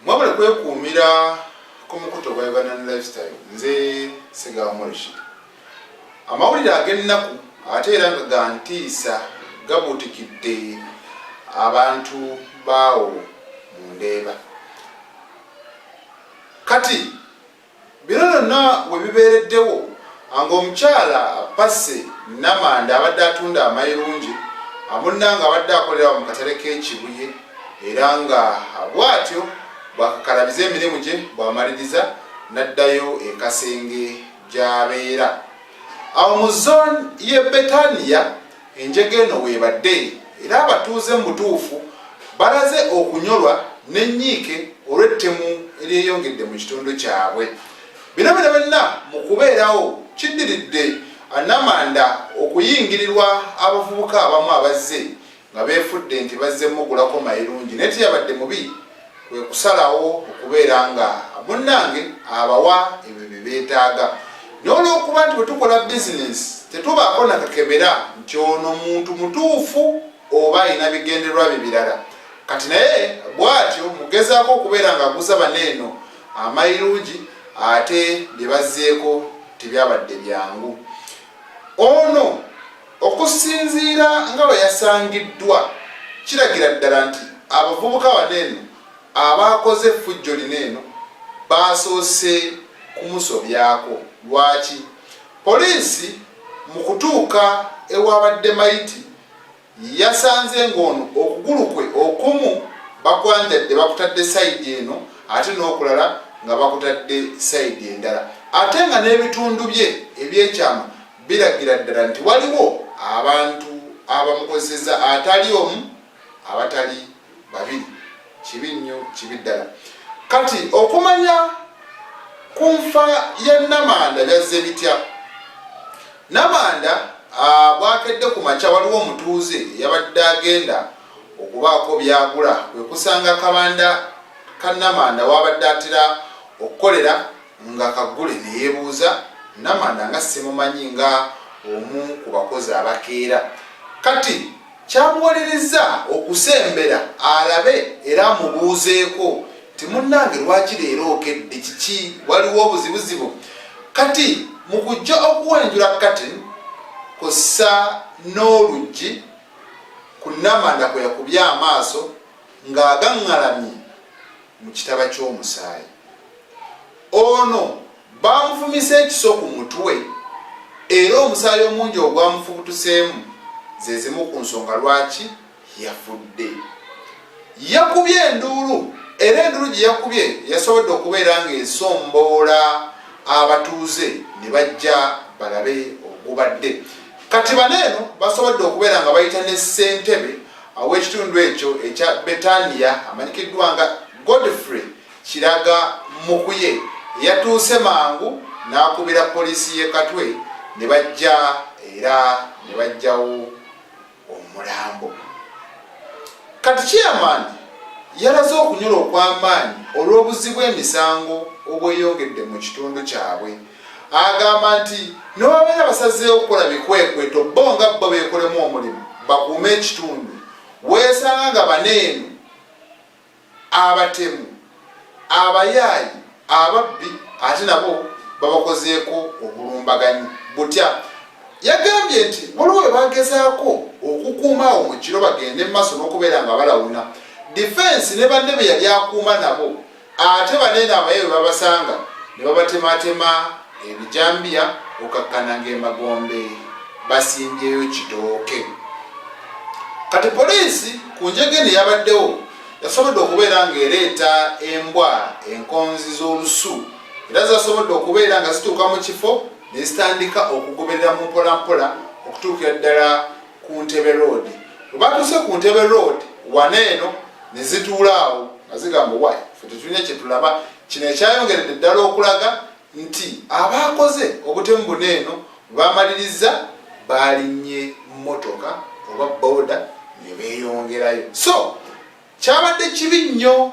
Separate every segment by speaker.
Speaker 1: mwabula kwekuumira ku mukuto gwa uganda ne lifestyle nze sigamurishi amawulire ag'ennaku ate era nga gantiisa gabuutikidde abantu baawo mu ndeeba kati Bino byonna we bibeereddewo ng'omukyala Percy Namanda abadde atunda amayirungi amunna ng'abadde akolera mu katale k'e Kibuye era nga bw'atyo bw'akakalabiza emirimu gye bw'amaliriza n'addayo e Kasenge gy'abeera. Awo mu zooni y'e Betania Enjega eno w'ebadde era abatuuze mu butuufu balaze okunyolwa n'ennyiike olw'ettemu eryeyongedde mu kitundu kyabwe. Bino byobyonna mu kubeerawo kiddiridde Namanda okuyingirirwa abavubuka abamu abazze nga beefudde nti bazze mmugulako mayirungi naye teyabadde mubi kwe kusalawo okubeera nga munnange abawa ebyo bye beetaaga n'olwokuba nti bwe tukola bizinensi tetubaako nakakebera nti ono muntu mutuufu oba alina bigendererwa bye birala kati naye bw'atyo mugezaako okubeera nga aguza bana eno amayirungi ate bye bazzeeko tebyabadde byangu ono Okusinziira nga bwe yasangiddwa, kiragira ddala nti abavubuka bano eno abaakoze effujjo lino eno baasoose kumusobyako. Lwaki? Poliisi mu kutuuka ewaabadde mayiti yasanze ng'ono okugulu kwe okumu bakwanjadde bakutadde sayidi eno ate n'okulala nga bakutadde sayidi endala ate nga n'ebitundu bye ebyekyama biragira ddala nti waliwo abantu abamukozeseza atali omu abatali babiri kibi nnyo kibi ddala kati okumanya ku nfa ya namanda byazze bitya namanda ah, bwakedde ku makya waliwo omutuuze yabadde agenda okubaako byagula kwekusanga kabanda ka namanda wabadde atera okukolera Nga Kagule ne yeebuuza, Namanda nga simumanyi nga omu ku bakozi abakeera? Kati kyamuwalirizza okusembera alabe era amubuuzeeko nti, Munnange lwaki leero okedde? Kiki? Waliwo obuzibuzibu? Kati mu kujja okuwenjula curtain kw'ossa n'oluggi, ku Namanda kwe yakubye amaaso ng'agaŋŋalamye. mu kitaba ky'omusaayi. Ono baamufumise ekiso ku mutwe era omusaayi omungi ogwamufubutuseemu ze zimu ku nsonga lwaki yafudde. Yakubye enduulu era enduulu gye yakubye yasobodde okubeera ng'esomboola abatuuze ne bajja balabe ogubadde. Kati bano eno basobodde okubeera nga bayita ne ssentebe Ow'ekitundu ekyo ekya Betaniya amanyikiddwa nga Godfrey Kiraga Mukuye yatuuse mangu n'akubira poliisi y'e Katwe ne bajja era ne baggyawo omulambo. Kati chairman yalaze okunyolwa okw'amaanyi olw'obuzzi bw'emisango obweyongedde mu kitundu kyabwe. Agamba nti newabeera basazeewo okukola bikwekweto bo nga bbo beekolemu omulimu bakuume ekitundu weesanga nga baneeno abatemu abayaayi ababbi ate nabo babakozeeko obulumbaganyi butya yagambye nti waliwo we bagezaako okukuuma awo mu kiro bagende mu maaso n'okubeera nga balawuna difensi ne banne be yali akuuma nabo ate baneeno abaye bwe babasanga ne babatematema ebijambiya okakkana ng'emagombe basimbyeyo kitooke kati poliisi ku njege ne yabaddewo yasobodde okubeera ng'ereeta embwa enkonzi z'olusu era zasobodde okubeera nga zituuka mu kifo ne zitandika okugoberera mu mpolampola okutuukira ddala ku ntebe road webatuuse ku ntebe road wana eno nezituula awo nga zigamba wayi fe tetulina kyetulaba kino ekyayongeredde ddala okulaga nti abaakoze obutemu buna eno bamalirizza baalinnye mmotoka oba booda ne beeyongerayo so kyabadde kibi nnyo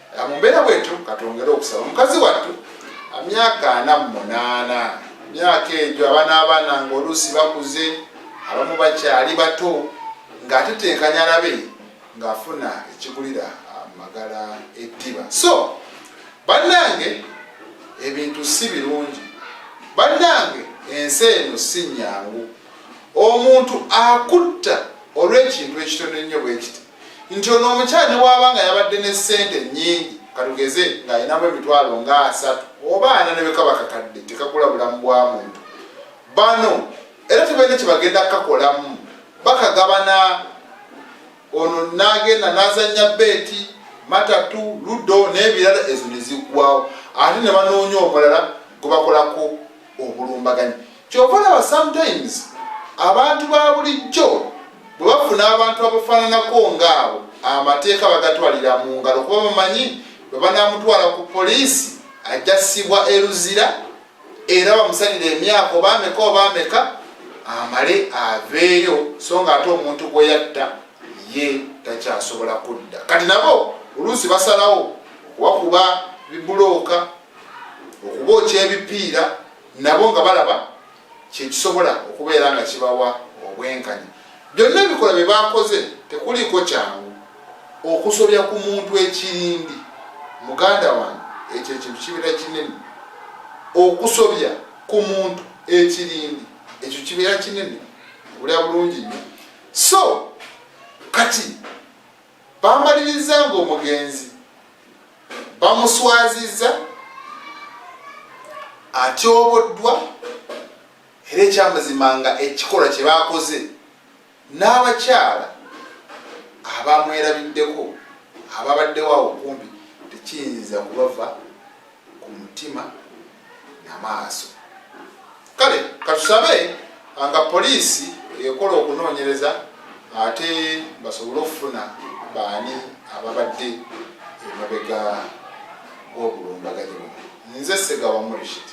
Speaker 1: mu mbeera bwetyo katwongere okusaba mukazi wattu myaka ana mu munaana myaka egyo abaana abaana ngaoluusi bakuze abamu bakyali bato ng'atetenkanya alabe ng'afuna ekigulira amagala eddiba so bannange ebintu si birungi bannange ensi eno si nnyangu omuntu akutta olw'ekintu ekitono ennyo bwekiti nti ono omukyala newaba nga yabadde ne sente nyingi katugeze ng'alinamu emitwalo nga asatu oba ana nebekaba kakadde tekagula bulamu bwa muntu bano era tebalina kyebagenda kukakolamu bakagabana ono nagenda nazanya beeti matatu ludo n'ebirala ezo neziggwawo ate ne banoonya omulala gwebakolako obulumbaganyi kyova olaba sometimes abantu ba bulijjo bwe bafuna abantu abafaananako ngaabo amateeka bagatwalira mu ngalo kuba bamanyi bwe banamutwala ku poliisi ajja sibwa eruzira era bamusalira emyaka obaameka obaameka amale aveeyo so nga ate omuntu gwe yatta ye takyasobola kudda kati nabo oluusi basalawo okubakuba bibulooka okubookya ebipiira nabo nga balaba kyekisobola okubeera nga kibawa obwenkanya byonna ebikola bye bakoze tekuliiko kyangu okusobya ku muntu ekirindi muganda wange ekyo ekintu kibeera kinene okusobya ku muntu ekirindi ekyo kibeera kinene obulya bulungi nyo so kati Baamalirizza ng'omugenzi bamuswazizza, atyoboddwa era ekyamazima nga ekikolwa kye baakoze n'abakyala abamwerabiddeko ababaddewo awo kumpi tekiyinza kubava ku mutima na maaso. Kale katusabe nga poliisi ekola okunoonyereza ate basobole okufuna baani ababadde emabega w'obulumbaganyi buno. Nze Ssegawa Murishid.